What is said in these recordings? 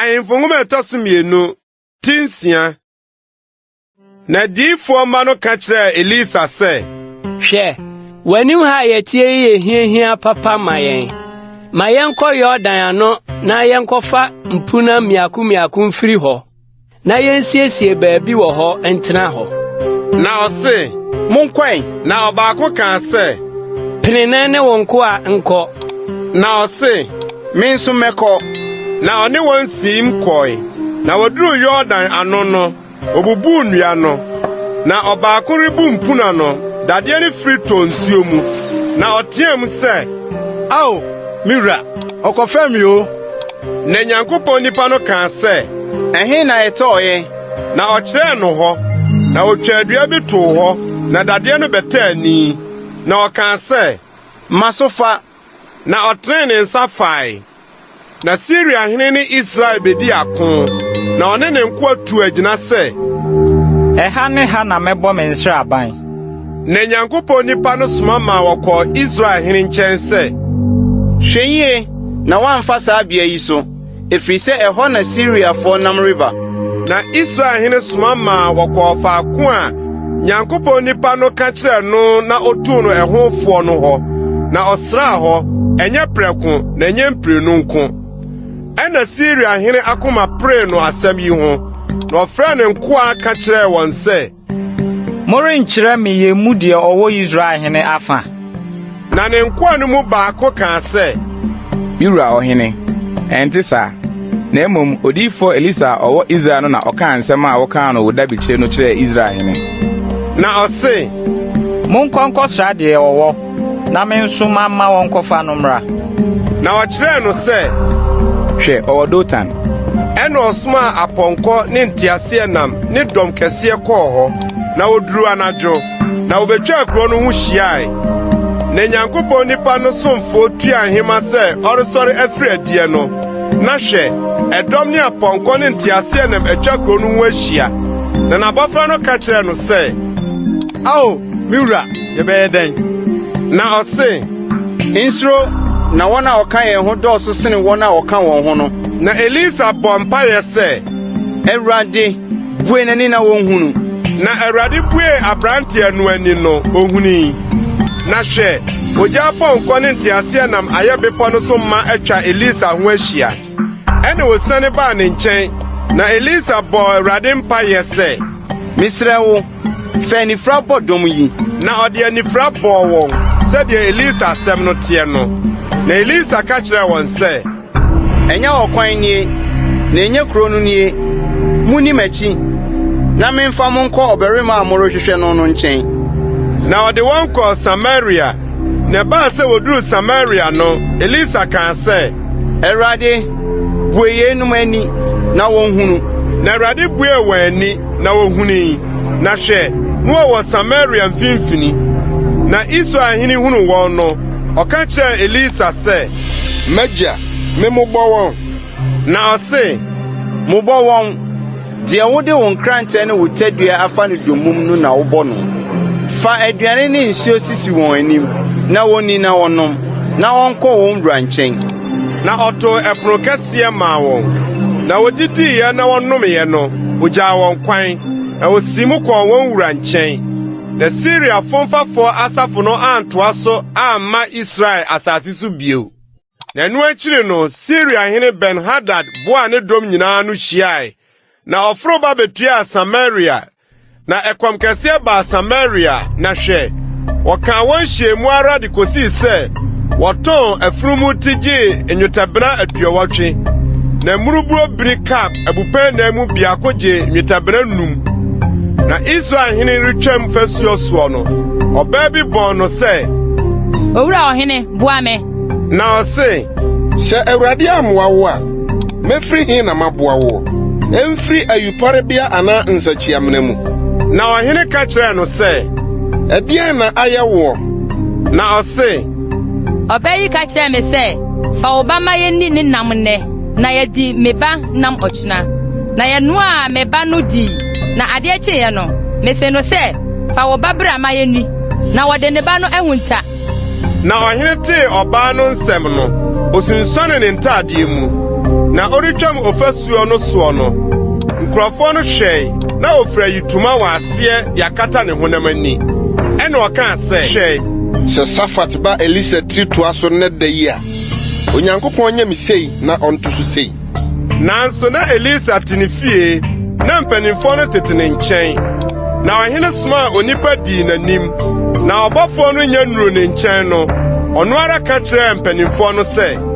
Ahemfo nhoma ɛtɔ so mmienu ti nsia na diifoɔ mma no ka kyerɛɛ Elisa sɛ. Hwɛ, w'anim ha a yɛteɛ yi yɛ hiahia papa ma yɛn. Ma yɛnkɔ Yordan ano na yɛnkɔfa mpunan mmiako mmiako mfiri hɔ. Na yensiesie baabi wɔ hɔ ntena hɔ. Na ɔse, Monkɔ ɛ. Na ɔbaako kaa sɛ, Pene na ɛne wo nkoa nkɔ. Na ɔse, Me nso mɛkɔ. Na ɔne wɔn siim kɔe. Na wɔduruu Yordan ano no, wɔbubuu nnua no. Na ɔbaako rebu mpuna no, dadeɛ no firi tɔɔ nsuo mu. Na ɔteaam sɛ, Ao, me wura, ɔkɔfɛm me o! Na Nyankopɔn nipa no kaa sɛ, “Ɛhe na ɛtɔɔ yɛn?” Na ɔkyerɛɛ no hɔ. Na otwaa dua bi too hɔ, na dadeɛ no bɛtɛɛ ani. Na ɔkaa sɛ, “Ma so fa.” Na ɔtenee ne nsa fae. Na Siria hene ne Israel bedi ako, na ɔne ne nkoa tuu agyina sɛ. Ɛha ne ha na mɛbɔ me nsraban. Na Nyankopɔn nipa no soma maa wɔkɔɔ Israel hene nkyɛn sɛ. Hwɛ yie na woamfa saa bea yi so, ɛfiri sɛ ɛhɔ na Siriafoɔ nam reba. Na Israel hene soma maa wɔkɔɔ faako a Nyankopɔn nipa no ka kyerɛɛ no na ɔtuu no ɛho foɔ no hɔ, na ɔsraa hɔ, ɛnyɛ prɛko, na ɛnyɛ mprenu nko. Ɛnna Siria hene akoma peree no asɛm yi ho, na ɔfrɛɛ ne nkoa ka kyerɛɛ wɔn sɛ. Morenkyerɛ me yɛn mu deɛ ɔwɔ Israel hene afã? Na ne nkoa no mu baako kaa sɛ. Me wura ɔhene, ɛnte saa, na mmom odiyifoɔ Elisa a ɔwɔ Israel no na ɔkaa nsɛm a wokaa no wo dabekyire no kyerɛɛ Israel hene. Na ɔse. Monkɔ nkɔsra deɛ ɔwɔ. Na me nso mamma wɔnkɔfa no mmra. Na ɔkyerɛɛ no sɛ, Hwɛ, ɔwɔ Dotan. Ɛnna ɔsomaa apɔnkɔ ne nteaseɛnam ne dɔm kɛseɛ kɔɔ hɔ, na wɔduruu anadwo, na wɔbɛtwaa kuro no ho hyiae. Na Nyankopɔn nipa no somfoɔ tuaa nhema sɛ ɔresɔre afiri adiɛ no, na hwɛ, ɛdɔm ne apɔnkɔ ne nteaseɛnam atwa kuro no ho ahyia. Na n'abɔfra no ka kyerɛɛ no sɛ, Ao, me wura, Yɛbɛyɛ dɛn? Na ɔse, Nsuro, na wɔn a wɔka yɛn ho dɔɔso sene wɔn a wɔka wɔn ho no. Na Elisa bɔɔ mpaeɛ sɛ, Awurade, bue n'ani na ɔnhunu. Na Awurade buee aberanteɛ no ani no, ɔhunui. Na hwɛ, ogya apɔnkɔ ne nteaseɛnam ayɛ bepɔ no so ma atwa Elisa ho ahyia. Ɛnna wɔsiane baa ne nkyɛn, na Elisa bɔɔ Awurade mpaeɛ sɛ, Mesrɛ wo, Fa anifira bɔ dɔm yi. Na ɔde anifira bɔɔ wɔn sɛdeɛ Elisa asɛm no teɛ no. Na Elisa ka kyerɛɛ wɔn sɛ. Ɛnyɛ ɔkwan nie, na ɛnyɛ kuro no nie. Monni m'akyi, na memfa mo nkɔ ɔbarima a morehwehwɛ no no nkyɛn. Na ɔde wɔn kɔɔ Samaria. Na ɛbaa sɛ wɔduruu Samaria no, Elisa kaa sɛ. Awurade, bue yeinom ani na wɔnhunu. Na Awurade buee wɔn ani. Na wɔhunii, na hwɛ, na wɔwɔ Samaria mfimfini. Na Israel hene hunuu wɔn no, ɔka kyerɛɛ Elisa sɛ, M'agya, memmobɔ wɔn? Na ɔse, Mobɔ wɔn, deɛ wode wo nkrantɛ ne wo tadua afa no dommum no na wobɔ no. Fa aduane ne nsuo sisi wɔn anim, na wɔnni na wɔnom, na wɔnkɔ wɔn wura nkyɛn. Na ɔtoo ɛpono kɛseɛ maa wɔn, na wɔdidiiɛ na wɔnomeeɛ no, ɔgyaa wɔn kwan, na ɔsiim kɔɔ wɔn wura nkyɛn. Na Siria fomfafoɔ asafo no antoa so amma Israel asase so bio. Na ɛno akyiri no, Siria hene Ben-Hadad boaa ne dɔm nyinaa ano hyiae, na ɔforo ba bɛtuaa Samaria Na ɛkɔm kɛseɛ baa Samaria, na hwɛ, wɔkaa wɔn hyɛɛ mu ara de kɔsii sɛ wɔtɔn afunumu ti gyee nnwetɛbena aduɔwɔtwe, na mmurubuo bini kap abupɛn nan mu biako gyee nnwetɛbena nnum. Na Israel hene retwam fasuo soɔ no, ɔbaa bi bɔɔ no sɛ, Owura ɔhene, boa me! Na ɔse, Sɛ Awurade ammoa wo a, mɛfiri he na maboa woɔ? Ɛmfiri ayuporebea anaa nsakyiamena mu? Na ɔhene ka kyerɛɛ no sɛ, Ɛdeɛn na ayɛ woɔ? Na ɔse. Ɔbaa yi ka kyerɛɛ me sɛ, 'Fa wo ba ma yɛnni ne nam nnɛ, na yɛadi me ba nam ɔkyena. Na yɛnoaa me ba no dii, na adeɛ kyeeɛ no, mese no sɛ, 'Fa wo ba bra ma yɛnni. Na ɔde ne ba no ahunta. Na ɔhene tee ɔbaa no nsɛm no, osunsuane ne ntaadeɛ mu. Na ɔretwam ɔfasuo no soɔ no, nkurɔfoɔ no hwɛe na ɔfira yitoma wɔ aseɛ de akata ne honam ani. Ɛna ɔkaa sɛ, Hwɛ! Sɛ Safat ba Elisa tiri toa so nnɛ da yi a, Onyankopɔn nyɛ me sei na ɔnto so sei. Nanso na Elisa te ne fie na mpanimfoɔ no tete ne nkyɛn. Na ɔhene somaa onipa dii n'anim, na ɔbɔfoɔ no nya nnuru ne nkyɛn no, ɔno ara ka kyerɛɛ mpanimfoɔ no sɛ,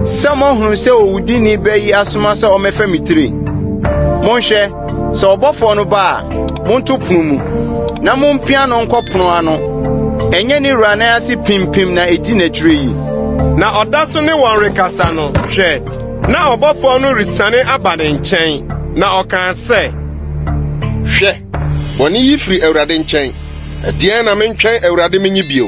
Sɛ moahunu sɛ owudini bɛ yi asoma sɛ ɔmmɛfa me tire, monhwɛ Sɛ ɔbɔfoɔ no ba a, monto pono mu, na mompia no nkɔ pono ano. Ɛnyɛ ne wura nan ase pimpim na ɛdi n'akyire yi. Na ɔda so ne wɔn rekasa no, hwɛ! na ɔbɔfoɔ no resiane aba ne nkyɛn, na ɔkaa sɛ, Hwɛ! bɔne yi firi Awurade nkyɛn. Ɛdeɛn na mentwɛn Awurade menye bio?